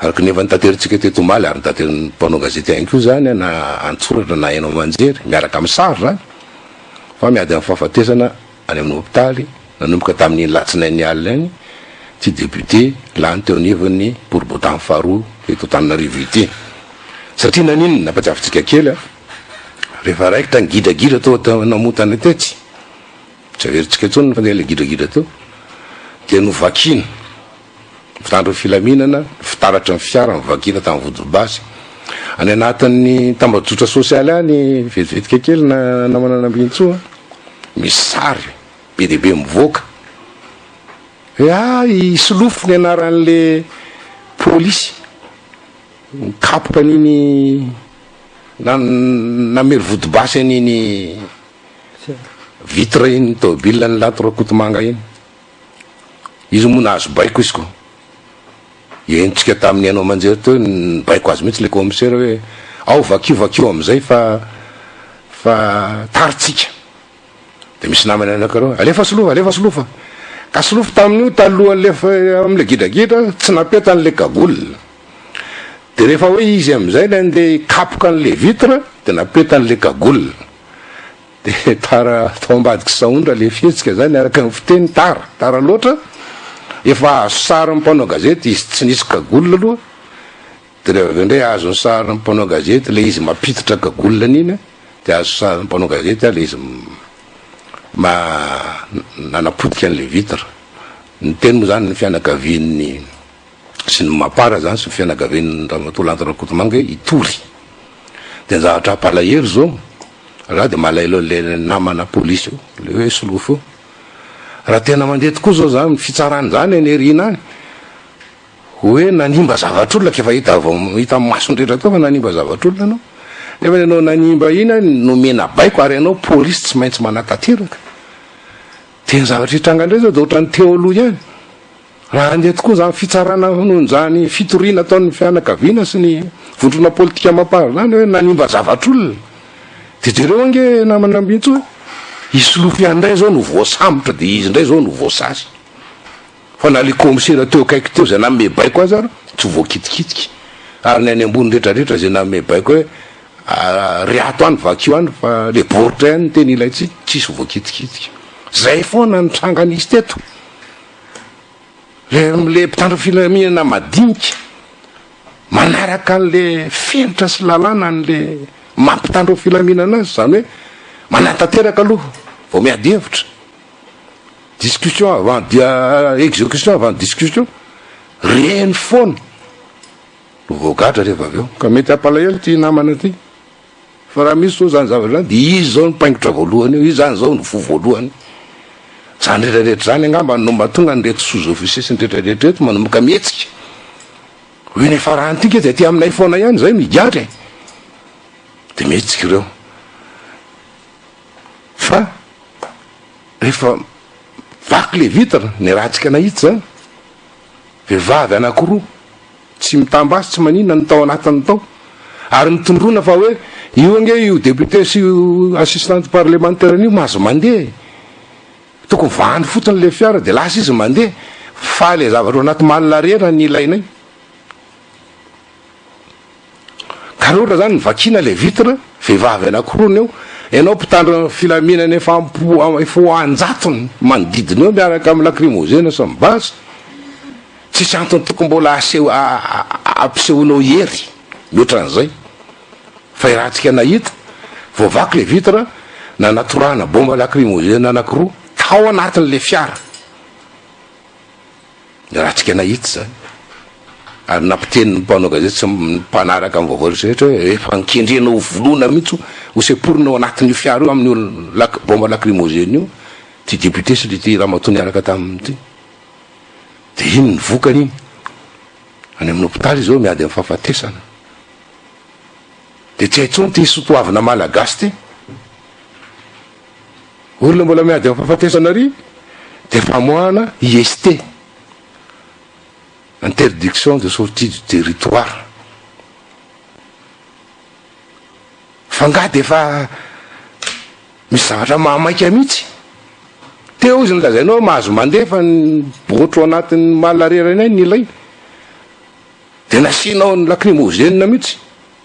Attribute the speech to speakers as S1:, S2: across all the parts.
S1: araka ny efa nitaterantsika teto omaly ary nitateran'ny mpanao gazety ihany koa zany na antsoratra na haino aman-jery miaraka amin'ny sary zany fa miady amin'ny fahafatesana any amin'ny hopitaly nanomboka tamin'iny latsinain'ny alina any ty député lany teo anivon'ny boribotan'ny faharoa eto Antananarivo ity satria naninona nampatsiavintsika kely Rehefa raikitra ny gidragidra tao an-tanamotana tetsy, tsy averintsika intsony ny fandehan'ilay gidragidra teo, dia novakiana, mpitandro ny filaminana, fitaratry ny fiara novakiana tamin'ny vodibasy. Any anatin'ny tambajotra sosialy any, vetivetika kely na namana Nambinintsoa, misy sary be dia be mivoaka hoe ah, i Solofo ny anaran'ilay polisy nikapoka an'iny. Namery vodibasy an'iny vitre iny tomobil an'i Lato Rakotomanga iny. Izy moa nahazo baiko izy ko. Henontsika tamin'ny haino aman-jery teo ny baiko azy mihitsy ilay kaomisera hoe ao vakio vakio amin'izay fa fa tary tsika. Dia misy namany anankiroa, alefa solofa, alefa solofa. Ka solofo tamin'io talohan'ny lef amin'ilay gidragidra, tsy napetany ilay cagoule. Dia rehefa hoe izy amin'izay ilay andeha hikapoka an'ilay vitre, dia napetany ilay cagoule. Dia tara tao ambadik'i Saondra ilay fihetsika izany araka ny fiteny, tara, tara loatra. Efa azo sarin'ny mpanao gazety izy tsy nisy cagoule aloha. De rehefa avy eo ndray azony sarin'ny mpanao gazety ilay izy mampiditra cagoule an'iny a, de azo sarin'ny mpanao gazety ilay izy ma nanapotika an'ilay vitre. Ny teny moa zany ny fianakavian'ny sy ny mapar zany sy ny fianakavian'i Ramatoa Lanto Rakotomanga hoe hitory. De ny zavatra hampalahelo zao, za de malaelo an'le namana polisy io, le hoe solofo io, raha tena mandeha tokoa zao zany fitsarana izany any aoriana any, Hoe nanimba zavatr'olona ka efa hita vao hita amin'ny mason'ny rehetra tao fa nanimba zavatr'olona ianao. Nefa ianao nanimba iny ary nomena baiko ary ianao polisy tsy maintsy manatanteraka. Dia ny zavatra hitranga indray izao dia ohatran'ny teo aloha ihany. Raha handeha tokoa izany fitsarana noho izany fitoriana ataon'ny fianakaviana sy ny vondrona politika amam-pahazo izany hoe nanimba zavatr'olona. Dia jereo ange namana Ambintsoa, i Solofo ihany indray izao no voasambotra dia izy indray izao no voasasa. Fa na le kaomisera teo akaiky teo zay nanome baiko aza ary tsy voakitikitika, ary ny any ambony retraretra zay nanome baiko hoe ary ato any vakio any fa le board any no tena ilaintsika, tsisy voakitikitika. Zay foana ny tranga nisy teto. Le le mpitandro filaminana madinika manaraka anle fenitra sy lalàna anle maha mpitandro filaminana azy, zany hoe manantanteraka aloha vao miady hevitra. Discussion avant dia execution avant discussion, reny foana no voagadra rehefa avy eo, ka mety hampalahelo ity namana ity, fa raha misy zao zany zavatra zany dia izy zao no paingotra voalohany eo, izy zany zao no voa voalohany, zany rehetra rehetra zany angamba no mahatonga an'ireto sous officiers sy ny rehetra rehetra ireto manomboka mihetsika, hoe ny faran'ity nge dia aty aminay foana ihany, zay no higadra e, dia mihetsika ireo. Fa rehefa vaky le vitre ny ratsika nahitsy zany, vehivavy anakiroa tsy mitam-basy tsy manina no tao anatiny tao ary mitondrona fa hoe io ange io député sy io assistante parlementaire an'io mahazo mandeha e! tokony vahany fotsiny le fiara de lasa izy mandeha fa le zavatra ao anaty malina reny no ilainay. Ka rehefa zany vakiana ilay vitre, vehivavy anankiroa ny eo, ianao mpitandro filaminana efa am-po efa ho an-jatony manodidina eo miaraka amin'ny lakrimozena sy ny basy, tsisy antony tokony mbola aseho ampisehoanao hery mihoatra an'izay fa i Ratsika nahita vao vaky ilay vitre, nanatorana bomba lakrimozena anankiroa tao anatin'ilay fiara. Niratrika anay itsy izany. Ary nampiteny ny mpanao gazety sy ny mpanaraka ny vaovao rehetra hoe efa kendrena ho vonoina mihitsy, ho semporina ao anatin'io fiara io amin'io lac, bomba lacrymogène io ity député sy ity ramatoa niaraka taminy ity. Dia iny ny vokany iny. Any amin'ny hopitaly izao miady amin'ny fahafatesana. Dia tsy hay intsony ity soatoavina malagasy ity. Olona mbola miady amin'ny fahafatesana ary dia famoahana IST, interdiction de sortie du territoire. Fa nga dia efa misy zavatra mahamaika mihitsy. Teo izy nolazainao hoe mahazo mandefa ny botro anatin'ny malariera ny ainy ny lay. Dia nasianao ny lacrymogène mihitsy.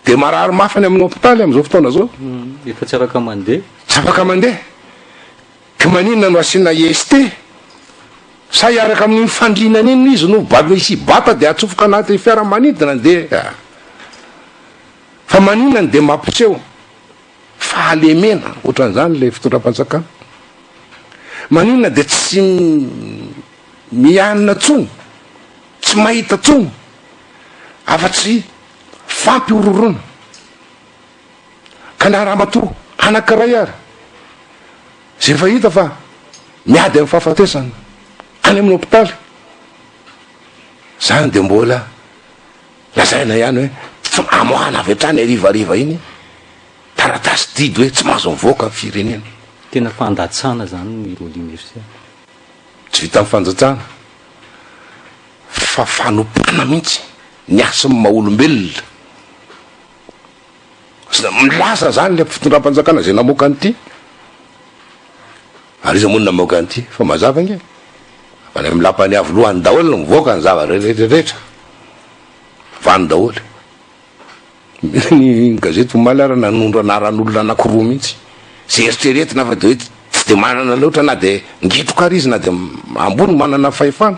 S1: Dia marary mafy any amin'ny hopitaly amin'izao fotoana izao. Efa tsy afaka
S2: mandeha. Tsy afaka mandeha.
S1: Ka maninona no asiana IST? Sa hiaraka amin'iny fandriana any iny izy no bal misy hibata dia atsofoka anaty fiaramanidina dia fa maninona no dia mampiseho fahalemena ohatran'izany ilay fitondram-panjakana? Maninona dia tsy mianina tsony? Tsy mahita tsony? afa-tsy fampihorohoroana. Ka na ramatoa anankiray ary izay efa hita fa miady amin'ny fahafatesana any amin'ny hopitaly, izany dia mbola lazaina ihany hoe tsy mamoahana avy hatrany harivariva iny taratasy didy hoe tsy mahazo mivoaka ny firenena. Tena fandatsana
S2: izany ny Rolling Ursa. Tsy
S1: vitan'ny fanjajana fa fanompoana mihitsy ny hasin'ny maha olombelona. Milaza izany ilay fitondram-panjakana izay namoaka an'ity. Ary iza moa no namoaka an'ity? Efa mazava ange. Fa any amin'ny lapan'ny avo lohany daholo no mivoaka ny zavatra rehetra. Vany daholo. Ny gazety omaly ary nanondro anaran'olona anankiroa mihitsy, izay eritreretina fa dia hoe tsy dia manana loatra na dia ngetroka ary izy na dia ambony manana fahefana,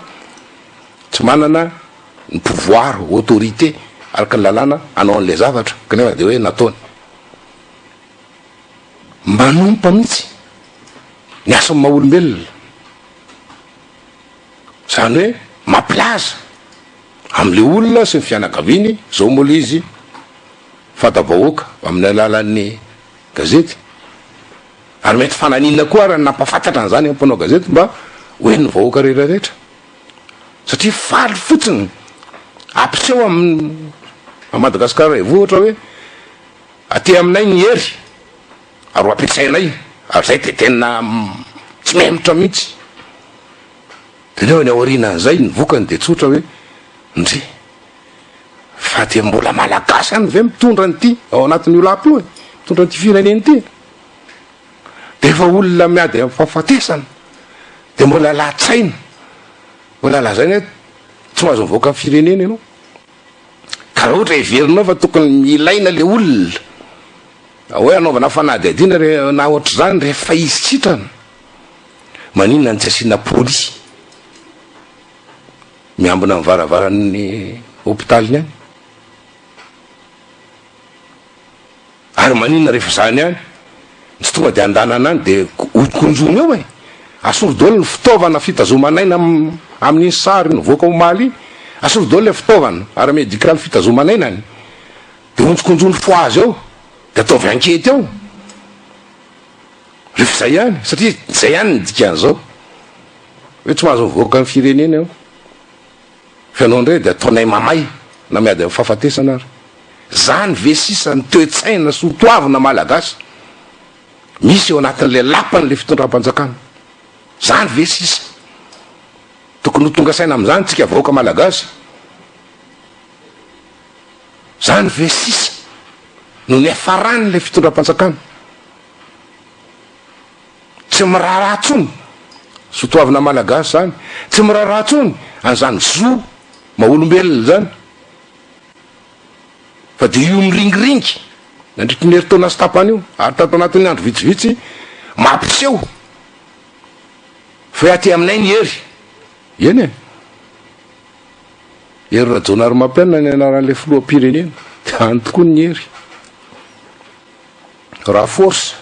S1: tsy manana ny pouvoir, autorité araka ny lalàna hanao an'ilay zavatra kanefa dia hoe nataony. Manompa mihitsy ny asan'ny maha olombelona. Izany hoe mampilaza amin'ilay olona sy ny fianakaviany izao moa ilay izy fanta-bahoaka amin'ny alalan'ny gazety. Ary mety fananina koa ary ny nampahafantatra an'izany amin'ny mpanao gazety mba ho henon'ny vahoaka rehetrarehetra. Satria faly fotsiny hampiseho amin'i Madagasikara Raivoho ohatra hoe aty aminay ny hery. ary ho ampiasainay ary zay de tena tsy memotra mihitsy, de neo ny aorianan'izay ny vokany de tsotra hoe ndry fa de mbola malagasy any ve mitondra an'ity ao anatin'io lapa io e, mitondra an'ity firenena ity e, de efa olona miady amin'ny fahafatesana de mbola lahatshaina mbola lazaina hoe tsy mahazo mivoaka ny firenena ianao. Ka raha ohatra heverinao fa tokony ilaina le olona hoe anaovana fanadihadiana re na ohatr'izany rehefa izy sitrana, maninona no tsy asiana polisy miambina ny varavaran'ny hopitaly any? Ary maninona rehefa zany ihany tsy tonga dia andanana any dia hokonjony eo e! Asolo daholo ny fitaovana fitazoman'aina amin'iny sary nivoaka omaly iny, asolo daholo ilay fitaovana ara-medikaly fitazoman'ainany dia honjokonjony foazy eo dia ataovy ankety eo rehefa izay ihany satria izay ihany ny dikan'izao hoe tsy mahazo mivoaka ny firenena eo. Ianao indray dia ataonay mamay na miady amin'ny fahafatesana ary. Izany ve sisa ny toe-tsaina sy ho toavina Malagasy misy eo anatin'ilay lapan'ilay fitondram-panjakana? Izany ve sisa? Tokony ho tonga saina amin'izany isika vahoaka Malagasy? Izany ve sisa no niafaran'ilay fitondram-panjakana? Tsy miraharaha tsony, zo toavina malagasy zany, tsy miraharaha tsony an'izany zo maha olombelona zany, fa dia io miringiringy nandritry ny herintaona sy tapany io ary tato anatin'ny andro vitsivitsy mampiseho fa aty aminay ny hery, eny e, Hery Rajaonarimampianina ny anaran'ilay filoham-pirenena, dia any tokoa ny hery, raha force.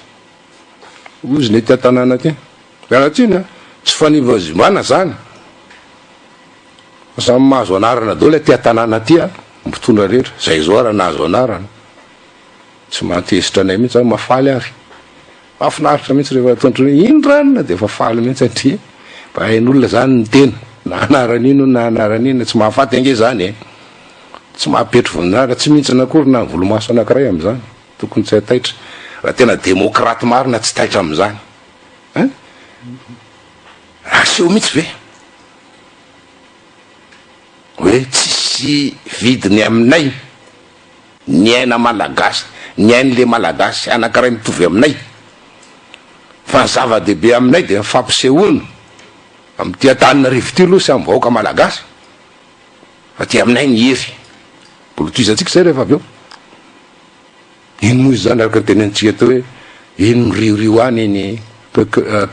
S1: Ozy nety an-tanàna aty Mianantsiny a! Tsy fanevazimbana zany fa samy mahazo anarana daoly aty an-tanàna aty a! Ny mpitondra rehetra izay zao ary nahazo anarana tsy mahatezitra anay mihitsy zany mahafaly ary mahafinaritra mihitsy rehefa ataony otrany hoe iny ranona dia efa faly mihitsy satria mba hain'olona zany ny tena na anarana iny na anarana iny tsy mahafaty ange zany e! Tsy mahapetro voninahitra tsy mihintsana akory na volomaso anankiray amin'izany. Tokony tsy hataitra. Raha tena demokraty marina tsy taitra amin'izany hein? Aseho mihitsy ve hoe tsisy vidiny aminay ny aina malagasy, ny ain'le malagasy anankiray mitovy aminay? Fa ny zava-dehibe aminay dia ny fampisehoana amin'ity Antananarivo ity aloha sy amin'ny vahoaka malagasy fa aty aminay ny hery. Bolotohizantsika izay rehefa avy eo. Iny moa izany araka ny tenenintsika aty hoe eny miriorio any iny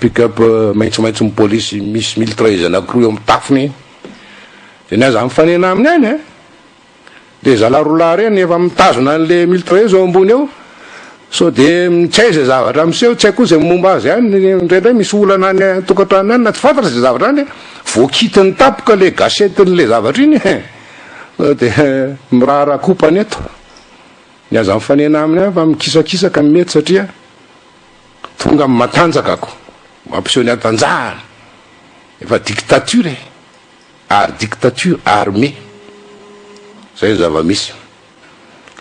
S1: pick-up maitsomaitso ny polisy misy miltraise anankiroa eo amin'ny tafony dia ny aza mifanena aminy any an! Dia zalahy roa lahy ireny efa mitazona an'ilay miltraise eo ambony eo sao dia tsy hay izay zavatra miseho, tsy hay koa izay momba azy any, indraindray misy olana any an-tokantrano any na tsy fantatra izay zavatra any, vao kitin'ny tampoka ilay gâchette-n'ilay zavatra iny dia miraharaha kopany eto. Ny aza mifanena aminy aho fa mikisakisaka ny mety satria tonga amin'ny matanjaka ko mampiseho ny hatanjahany efa dictature e ary dictature armée zay ny zava-misy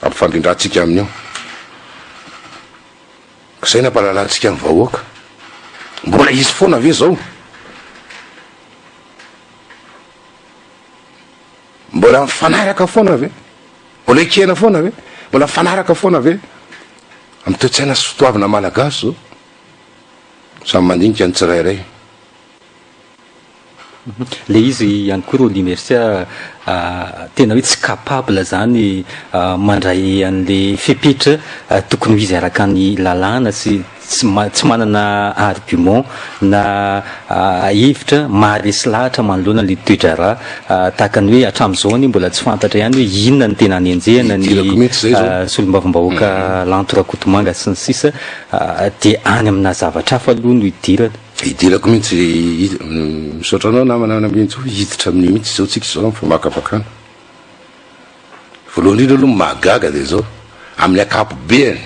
S1: ampifandrindratsika amin'io ka zay nampahalalantsika ny vahoaka mbola hisy foana ve zao Mbola mifanaraka foana ve? Mbola ekena foana ve? Mbola mifanaraka foana ve? Amin'ny toe-tsaina sy fitoavina malagasy zao. Samy mandinika ny tsirairay.
S2: Le izy ihany koa Rony Mercia tena hoe tsy capable zany mandray an'le fepetra tokony ho izy araka ny lalàna sy tsy tsy manana argument na hevitra maharesy lahatra manoloana ilay toe-draharaha tahaka ny hoe hatramin'izao anie mbola tsy fantatra ihany hoe inona no tena anenjehana ny solombavambahoaka Lanto Rakotomanga sy ny sisa dia any amina zavatra hafa aloha no hidirana. Hidirako mihitsy,
S1: misaotra anao namana Namenjo, hiditra amin'io mihitsy izao tsika izao amin'ny famakafakana. Voalohany indrindra aloha ny mahagaga dia izao, amin'ny akapobeany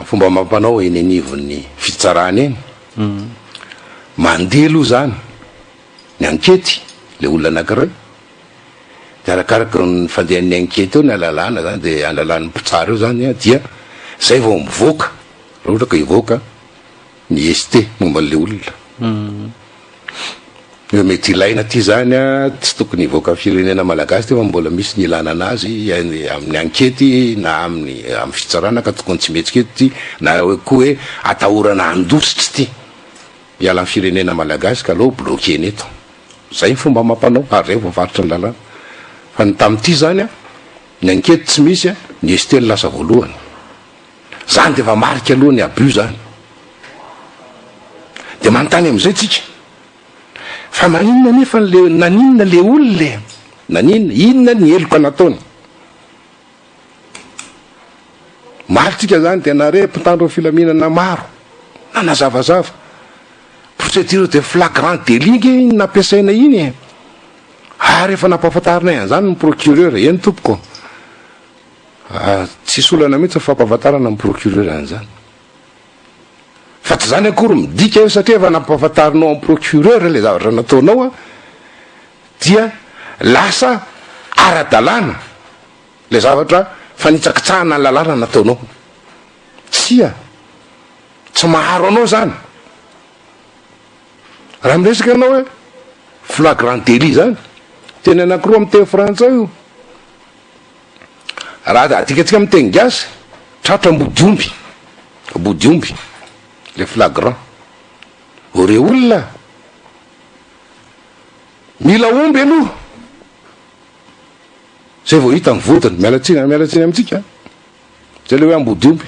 S1: Fomba amam-panao eny anivon'ny fitsarana eny, mandeha aloha izany ny ankety, ilay olona anankiray, dia arakaraka ny fandehan'ny ankety eo ny alalana izany, dia alalan'ny mpitsara eo izany dia izay vao mivoaka, raha ohatra ka hivoaka ny ST momba an'ilay olona hoe mety ilaina ity izany a, tsy tokony hivoaka amin'ny firenena malagasy ity fa mbola misy ny ilana an'azy amin'ny ankety na amin'ny amin'ny fitsarana ka tokony tsy mihetsika eto ity na hoe koa hoe atahorana handositra ity hiala amin'ny firenena malagasy ka aleo bloquer-ny eto. Izay ny fomba amam-panao ary izay vao varotra ny lalàna. Fa ny tamin'ity izany a, ny ankety tsy misy a, ny ST no lasa voalohany. Zany dia efa marika aloha ny abus zany. Dia manontany amin'izay tsika, fa maninona anefa le, naninona le olona e? Naninona, inona ny heloka nataony? Maro tsika zany dia nare mpitandro ny filaminana maro, nanazavazava. Procédure de flagrant délit nge iny nampiasaina iny e. Ary efa nampahafantarinay an'izany ny procureur, eny tompoko. Ary tsisy olana mihitsy ny fampahafantarana ny procureur an'izany. Fa tsy izany akory midika io satria efa nampahafantarinao amin'ny procureur ilay zavatra nataonao dia lasa ara-dalàna ilay zavatra fanitsakitsahana ny lalàna nataonao. Tsia, tsy maharo anao izany. Raha miresaka ianao hoe flagrant délit izany, teny anankiroa amin'ny teny frantsay io. Raha adikantsika amin'ny teny gasy, tratra ambodiomby, ambodiomby, le flagrant. Ireo olona mila omby aloha, zay vao hita ny vodiny. Miala tsiny, miala tsiny amintsika. Zay le hoe ambodiomby.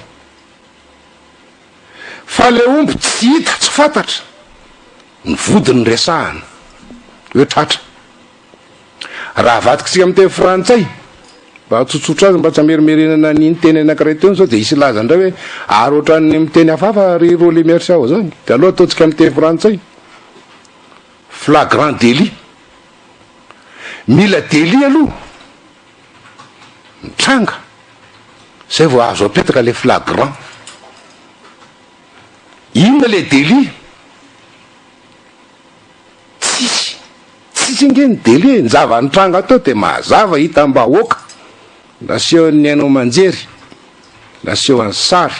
S1: Fa le omby tsy hita, tsy fantatra, ny vodiny resahana, hoe tratra. Raha avadika isika amin'ny teny frantsay, mba hahatsotsotra azy, mba tsy hamerimerenana an'iny teny anankiray teny izao, dia hisy hilaza indray hoe, ary ohatran'ny amin'ny teny hafahafa ry Rolly Mercia ao izany. Dia aleo ataontsika amin'ny teny frantsay. Flagrant délit. Mila délit aloha, mitranga, izay vao azo apetaka ilay flagrant. Inona ilay délit? Tsisy. Tsisy ange ny délai, ny zava-nitranga teo dia mazava, hitam-bahoaka, nasehon'ny haino aman-jery, nasehon'ny sary,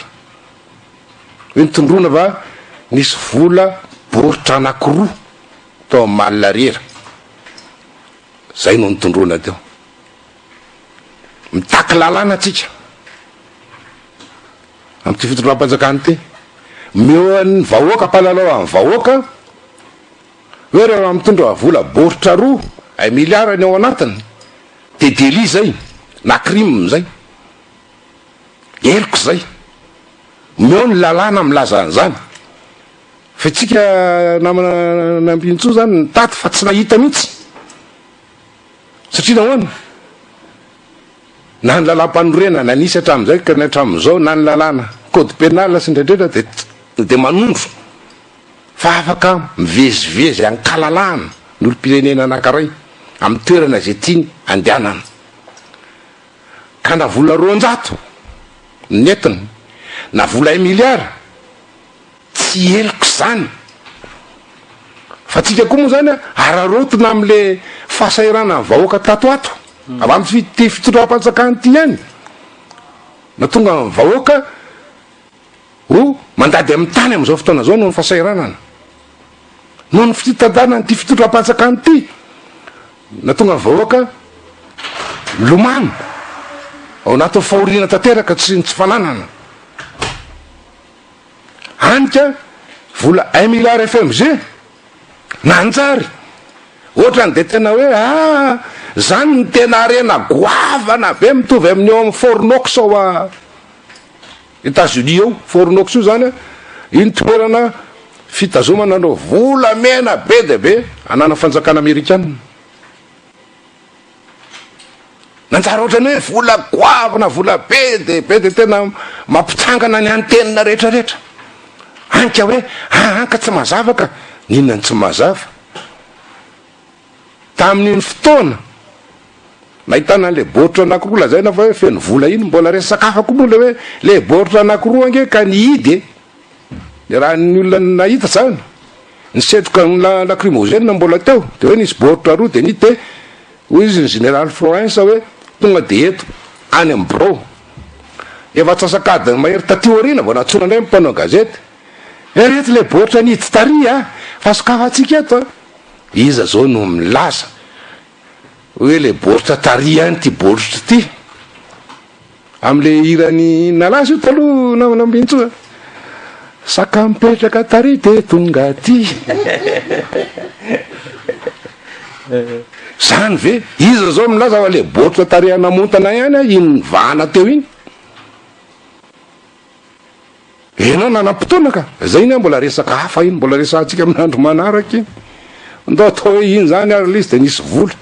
S1: hoe nitondroana fa nisy vola baoritra anankiroa tao amin'ny Mall Ariera, izay no nitondroana teo. Mitaky lalàna tsika. amin'ity fitondram-panjakana ity. Omeo an'ny vahoaka mpanalao an'ny vahoaka hoe raha raha mitondra vola baoritra roa ay miliara ny ao anatiny dia délit izay na crime izay. Heloka izay. Omeo ny lalàna milaza an'izany. Fa itsika namana Nambinintsoa izany nitady fa tsy nahita mihitsy. Satria nahoana? Na ny lalàmpanorenana nisy hatramin'izay ka ny hatramin'izao, na ny lalàna, code pénal sy ny rehetrarehetra dia dia manondro fa afaka mivezivezy an-kalalahana ny olom-pirenena anankiray amin'ny toerana izay tiany handehanana. Ka na vola roanjato no nentina, na vola un milliard, Tsy heloka izany. Fa antsika koa moa izany an, araraotina amin'ilay fahasahiranan'ny vahoaka tato ato. Avy amin'ity fitondram-panjakana ity ihany no tonga ny vahoaka ho mandady amin'ny tany amin'izao fotoana izao noho ny fahasahiranana. Noho ny fitantanan'ity fitondram-panjakana ity no nahatonga ny vahoaka milomano ao anatin'ny fahoriana tanteraka, tsy ny tsy fananana. Hany ka vola un milliard fmg nanjary ohatrany de tena hoe aa zany ny tena harena goavana be mitovy amin'ny eo amin'ny fornox ao a Etats Unis eo fornox io zany iny toerana fitazomana an'ireo volamena be dia be ananan'ny fanjakana amerikana. Nanjary ohatran'ny hoe vola goavana, vola be dia be, dia tena mampitsangana ny antenina rehetra rehetra. Hany ka hoe, aa ka tsy mazava ka! N'inona no tsy mazava? Tamin'iny fotoana nahitana an'ilay baoritra anankiroa lazaina fa hoe feno vola iny, mbola resaka hafa koa moa ilay hoe ilay baoritra anankiroa ange ka nihidy e! Raha ny olona nahita izany, ny setroka lakrimozena mbola teo, dia hoe nisy baoritra roa dia nite, hoy izy ny Zeneraly Florensa hoe tonga dia eto, any amin'ny birao. Efa antsasak'adiny mahery taty aoriana vao nantsoina indray ny mpanao gazety, hoe ireto ilay baoritra nihidy tary a! fa sokafantsika eto a! Iza izao no milaza hoe ilay baoritra tary ihany ity baoritra ity? Amin'ilay hiran'i Nalaza io taloha namana Bintso a! Saka mipetraka tary dia tonga aty. Zany ve? Iza izao milaza fa le baoritra tarihan'Amontana ihany a iny nivahana teo iny? Ianao nanam-potoana ka! Izay iny a mbola resaka hafa iny, mbola resahantsika amin'andro manaraka iny. Ndao atao hoe iny zany ary le izy dia nisy vola.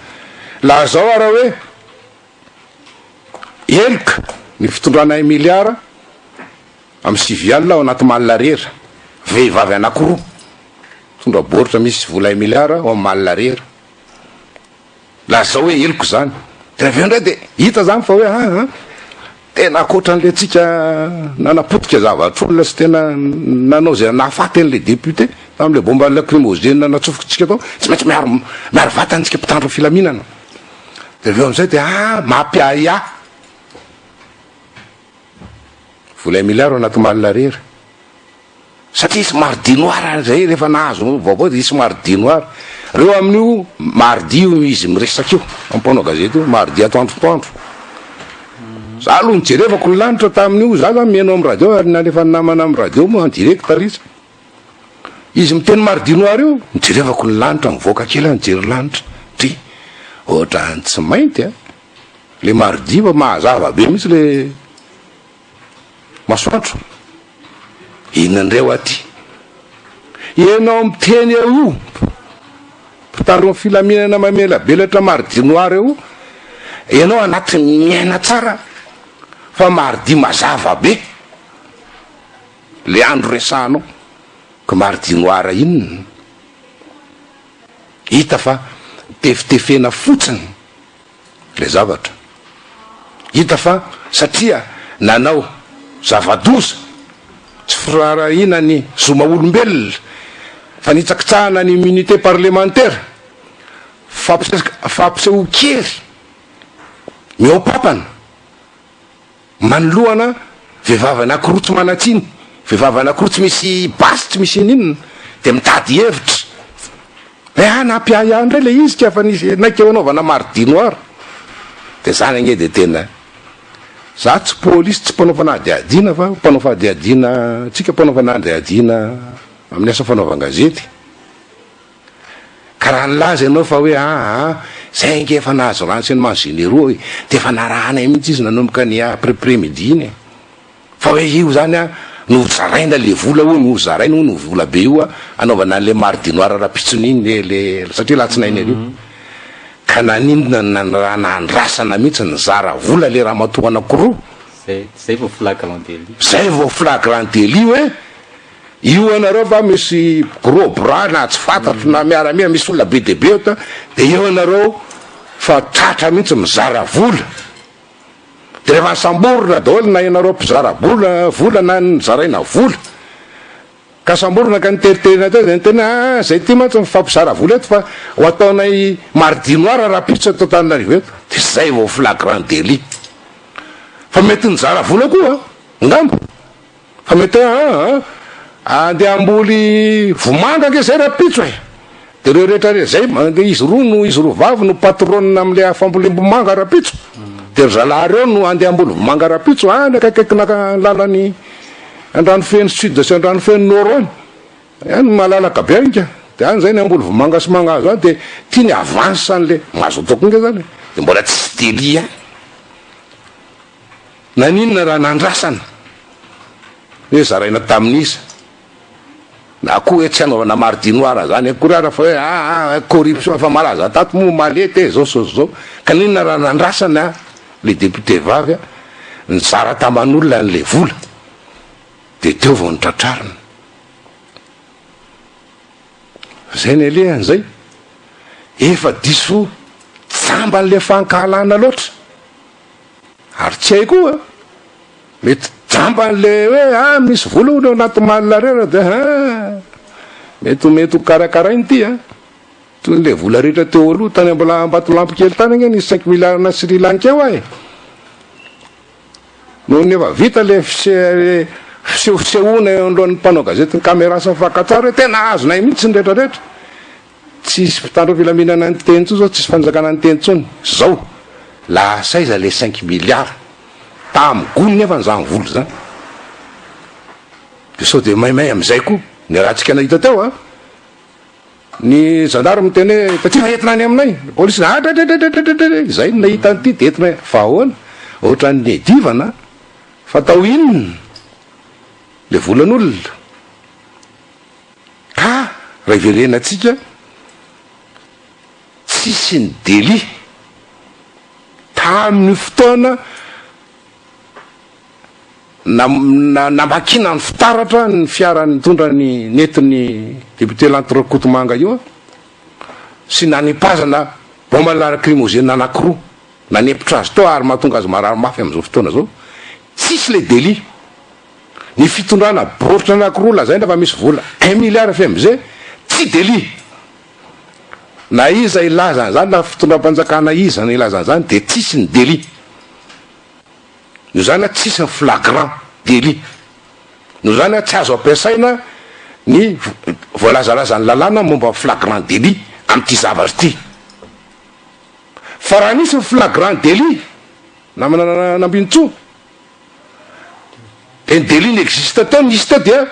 S1: Lazao ary hoe Heloka ny fitondrana i miliara amin'ny sivy alina ao anaty malina rera. Vehivavy anankiroa mitondra baoritra misy vola i miliara ao amin'ny malina rera. Lazao hoe heloka izany. Dia avy eo indray dia hita izany fa hoe an an. Tena ankoatra an'ilay antsika nanapotika zavatr'olona sy tena nanao izay nahafaty an'ilay député tamin'ilay bomba lacrymogène natsofokintsika tao, tsy maintsy miaro miaro vatana isika mpitandro ny filaminana. Dia avy eo amin'izay dia ah mampiahiahy. Vola un milliard anaty malina rery. Satria somary dinoar any zay rehefa nahazo vaovao dia somary dinoar. Reo amin'io mardi io no izy miresaka io amin'ny mpanao gazety io, mardi atoandro atoandro. Za aloha nijerevako ny lanitra tamin'io, za zany mihaino amin'ny radio ary nalefan'ny namana amin'ny radio moa en direct r'isa. Izy miteny mardi noir io, nijerevako ny lanitra, nivoaka kely aho nijery ny lanitra. Dry! Ohatrany tsy mainty an! Le mardi fa mahazava be mihitsy le. Masoandro, inona indray hoa ty? Ianao miteny eo io mpitaron'ny filaminana mamelabelatra mardi noir io, ianao anatin'ny miaina tsara fa mardi mazava be le andro resahanao ka mardi noir inona? Hita fa tefitefena fotsiny. ilay zavatra. Hita fa satria nanao zava-doza tsy firaharahiana ny zo maha-olombelona, fanitsakitsahana ny immunité parlemantera, fampisehoan-kery mihoa-pampana, Manoloana vehivavy anankiroa tsy manan-tsiny, vehivavy anankiroa tsy misy basy, tsy misy ininona, dia mitady hevitra hoe hanampy ahy ihany indray ilay izy ka fa nisy naika ho anaovana mardi noir. Dia izany ange dia tena, izaho tsy polisy, tsy mpanao fanadihadiana fa mpanao fadihadiana, tsika mpanao fanadihadiana amin'ny asa fanaovan-gazety. Ka raha nilaza ianao fa hoe aa zay ange efa nahazo renseignements généraux e, dia efa narahanay mihitsy izy nanomboka ny après midi iny e, fa hoe io zany an nozaraina le vola hono, nozaraina hono io vola be io hanaovana an'le mare du noir rampitsony iny le satria alatsinainy aloha, ka naninona ny raha nandrasana mihitsy nizara vola le ramatoa anankiroa? Zay vao
S2: flagrant délit. Zay vao flagrant
S1: délit hoe. Io ianareo va misy gros bras na tsy fantatro na miaramila misy olona be dia be eto dia eo ianareo fa tratra mihitsy mizara vola dia rehefa nisamborina daholo na ianareo mpizara bola vola na ny zaraina vola ka samborina ka niteriterina teo dia niteny ah zay ty mantsy mifampizara vola eto fa ho ataonay mardi noir rahampitso eto Antananarivo eto dia zay vao flagrant délit fa mety nizara vola koa angamba Fa mety hoe an! andeha hamboly vomanga ange zay rapitso e! de reo rehetra reo zay de izy roa no izy roa vavy no patronne amle fambolim-bomanga rapitso de ry zalahy reo no andeha hamboly vomanga rapitso any akaikaikina lalany Andranofeno sud sy Andranofeno nord any any malalaka be any ka de any zay ny hamboly vomanga sy mangahazo any de tiany avance anle mazotoa koa nge zany de mbola tsy dely ihany Naninona raha nandrasana hoe zaraina tamin'iza? Na koa hoe tsy hanaovana mardi noir zany akory ara fa hoe aa corruption efa malaza tato moa omaly ety e zao so zao ka ninona raha nandrasana le député vavy a nizara taman'olona an'le vola de teo vao nitratrarina zay ny alehany zay efa diso jamban'le fankahalana loatra Ary tsy hay koa, mety jamba an'le hoe ah misy vola hono eo anaty malina rehetra dia ah mety ho mety ho karakaraina ity ah. Toy an'le vola rehetra teo aloha tany mbola Ambatolampy kely tany ange nisy cinq milliards na Sri Lanka eo ay. Noho ny efa vita le fisehosehoana eo anoloan'ny mpanao gazety ny caméra sy ny fakantsary hoe tena azonay mihitsy ny rehetra rehetra. Tsisy mpitandro filaminana niteny intsony zao, tsisy fanjakana niteny intsony zao, lasa aiza le cinq milliards tam gony nefa ny zany vola zany, de sao de maimay amizay koa ny ratsika nahita teo an, ny gendarme miteny hoe tatsika entina any aminay, ny police adradradradradradradradra izay no nahita an'ity de entina fa ahoana, ohatran'ny edivana an, fa atao inona le volan'olona. Ka raha iverenantsika, tsisy ny délit tamin'io fotoana namakiana ny fitaratra ny fiara nitondra ny nentin'ny député Lanto Rakotomanga io sy nanipazana bombe lacrymogène anankiroa nanempotra azy tao ary mahatonga azy marary mafy amin'izao fotoana izao, tsisy ilay délit. ny fitondrana baoritra anakiroa lazaina fa misy vola un milliard fmg tsy delit na iza hilaza an'izany na fitondram-panjakana iza no hilaza an'izany dia tsisy ny delit noho izany a tsisy ny flagrant delit noho izany a tsy azo ampiasaina ny voalazalazan'ny lalàna momba ny flagrant delit amin'ity zavatra ity fa raha nisy ny flagrant delit namana Nambinintsoa Teny delil existe teo nisy teo dia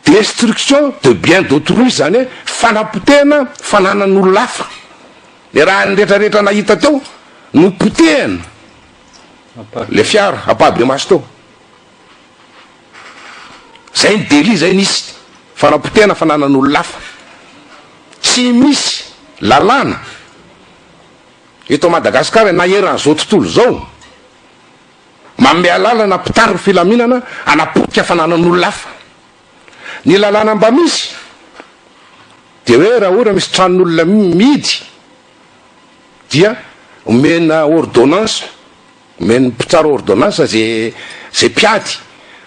S1: destruction de bien d'autrui izany hoe fanapotehana fananan'olona hafa. Le raha ny retraretra nahita teo no potehana le fiara ampahibemaso teo. Zay ny delil zay nisy fanapotehana fananan'olona hafa. Tsy misy lalàna. Eto Madagasikara, na eran'izao tontolo izao, manome alalana mpitari ny filaminana hanapotika fananan'olona hafa. Ny lalàna mba misy dia hoe raha ohatra misy tranon'olona mihidy dia omena ordonnance, omen'ny mpitsara ordonnance izay izay mpiady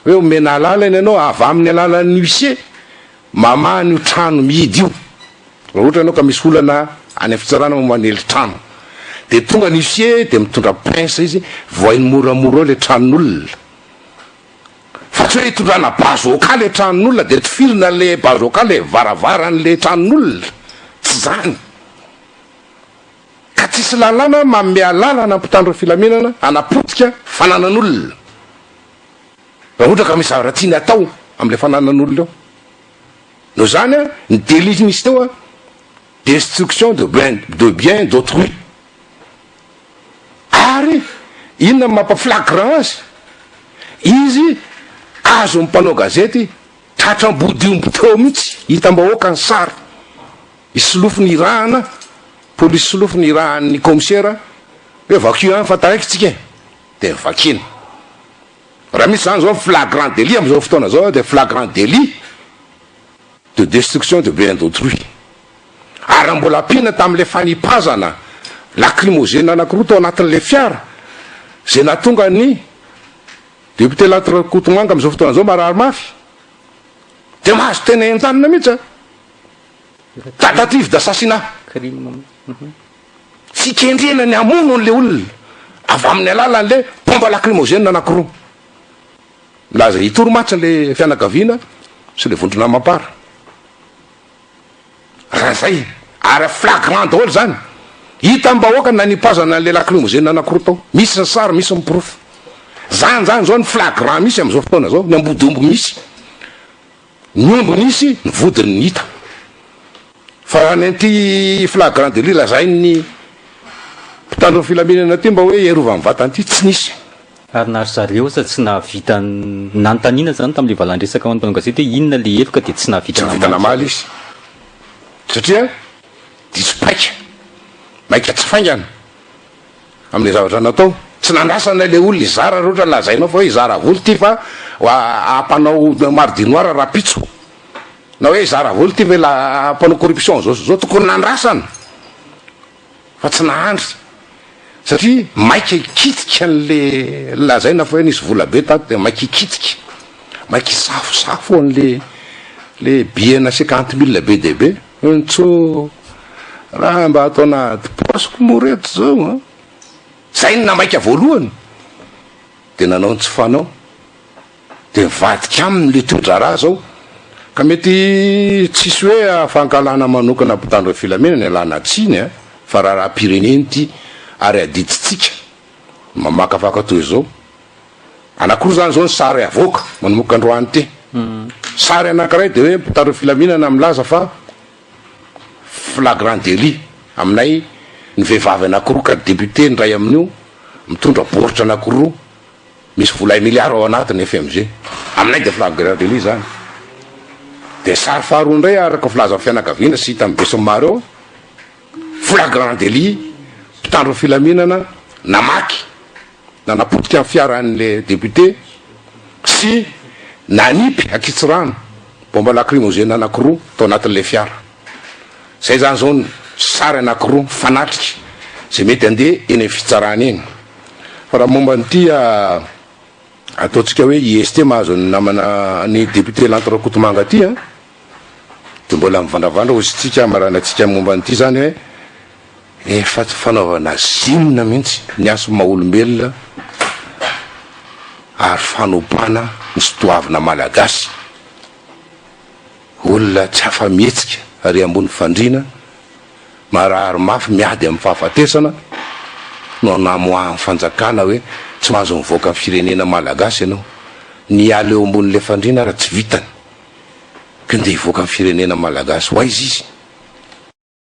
S1: hoe omena alalana ianao avy amin'ny alalan'ny huissier Mamaha an'io trano mihidy io. Raha ohatra ianao ka misy olana any amin'ny fitsarana momba ny elintrano, dia tonga ny huissier dia mitondra pince izy, vohainy moramora ao ilay tranon'olona. Fa tsy hoe hitondrana bazooka ilay tranon'olona dia tifirina an'ilay bazooka ilay varavaran'ilay tranon'olona. Tsy izany. Ka tsisy lalàna manome alalana ny mpitandro ny filaminana hanapotika fananan'olona. raha ohatra ka misy zavatra tiany atao amin'ilay fananan'olona eo. Noho izany, ny délit nisy teo a, destruction de bien, de bien d'autrui. Ary inona no mampaflagrant azy? Izy azon'ny mpanao gazety tratra ambodiomby teo mihitsy, hitam-bahoaka ny sary, i solofo nirahana, polisy solofo nirahan'ny kaomisera hoe vakio any fa taraiky tsika e. dia vakina. Raha misy izany izao flagrant délit amin'izao fotoana izao dia flagrant délit de destruction de bien d'autrui. Ary raha mbola ampiana tamin'ilay fanipazana lacrymogène anankiroa tao anatin'ilay fiara izay nahatonga ny député Lanto Rakotomanga amin'izao fotoana izao marary mafy dia mahazo tena entanina mihitsy an. Tentative d'assassinat. Fikendrena ny hamono an'ilay olona avy amin'ny alalan'ilay bomba lakrimozena anankiroa. Milaza hitory mantsy ilay fianakaviana sy ilay vondrona mampara. Raha izay, ary flagrant daholo izany. Hita am-bahoaka ny nanipazana an'ilay lakrimozena anankiroa tao. Misy ny sary, misy ny porofo. Izany izany izao ny flagrant misy amin'izao fotoana izao, ny ambodiomby misy. Ny omby nisy, ny vodiny hita. Fa raha ny an'ity flagrant délit lazain'ny mpitandro ny filaminana ity mba hoe hiarovany vatany ity, tsy nisy. Ary na ry zareo
S2: aza tsy nahavita nanontaniana izany tamin'ilay valan-dresaka ho an'ny mpanao gazety hoe inona ilay heloka dia tsy nahavita namaly. Tsy nahavita namaly izy
S1: satria diso paika, maika tsy faingana. Amin'ilay zavatra natao. Tsy nandrasana ilay olona hizara raha ohatra ny lazainao fa hoe hizara vola ity fa hampanao mari du noir rahampitso. Na hoe hizara vola ity fa ilay mpanao corruption izao sy izao. Tokony nandrasana fa tsy nahandry satria maika hikitika an'ilay lazaina fa hoe nisy vola be tato dia maika hikitika. Maika hisafosafo an'ilay billet nasiaka antimila be dia be. Ontso, raha mba atao nahady paosiko moa reto zao an! Zay no namaika voalohany de nanao ny tsy fanao de mivadika aminy le toedraharaha zao ka mety tsisy hoe afankalana manokana mpitandro ny filamina ny alana tsiny an! fa raharaham-pirenena ity ary adidintsika mamakafaka toy zao. Anakiroa zany zao ny sary avoaka manomboka androany ity. Sary anakiray dia hoe mpitarao filaminana milaza fa flagrant délit aminay ny vehivavy anakiroa ka député ny iray amin'io mitondra baoritra anakiroa misy vola un milliard ao anatiny FMG. Aminay dia flagrant délit zany. Dia sary faharoa indray araka filazan'ny fianakaviana sy hita amin'ny besinimaro eo flagrant délit mpitandro filaminana namaky Nanapotika ny fiaran'ilay député sy nanipy ankitsirano bomba lacrymogène anankiroa tao anatin'ilay fiara. Izay izany izao ny sary anankiroa mifanatrika izay mety handeha eny amin'ny fitsarana eny. Fa raha momba an'ity ataontsika hoe IST mahazo ny namana an'i député Lanto Rakotomanga ity dia mbola mivandravandra hoy isika maranantsika momba an'ity izany hoe Efa tsy fanaovana zine mihitsy ny hasin'ny maha olombelona ary fanopana ny tsy doavina malagasy. Olona tsy afa mihetsika ary ambony fandriana, marary mafy miady amin'ny fahafatesana no namoahan'ny fanjakana hoe tsy mahazo mivoaka ny firenena malagasy ianao. Ny hiala eo ambonin'ilay fandriana ary tsy vitany ka ndeha hivoaka ny firenena malagasy ho aiza izy?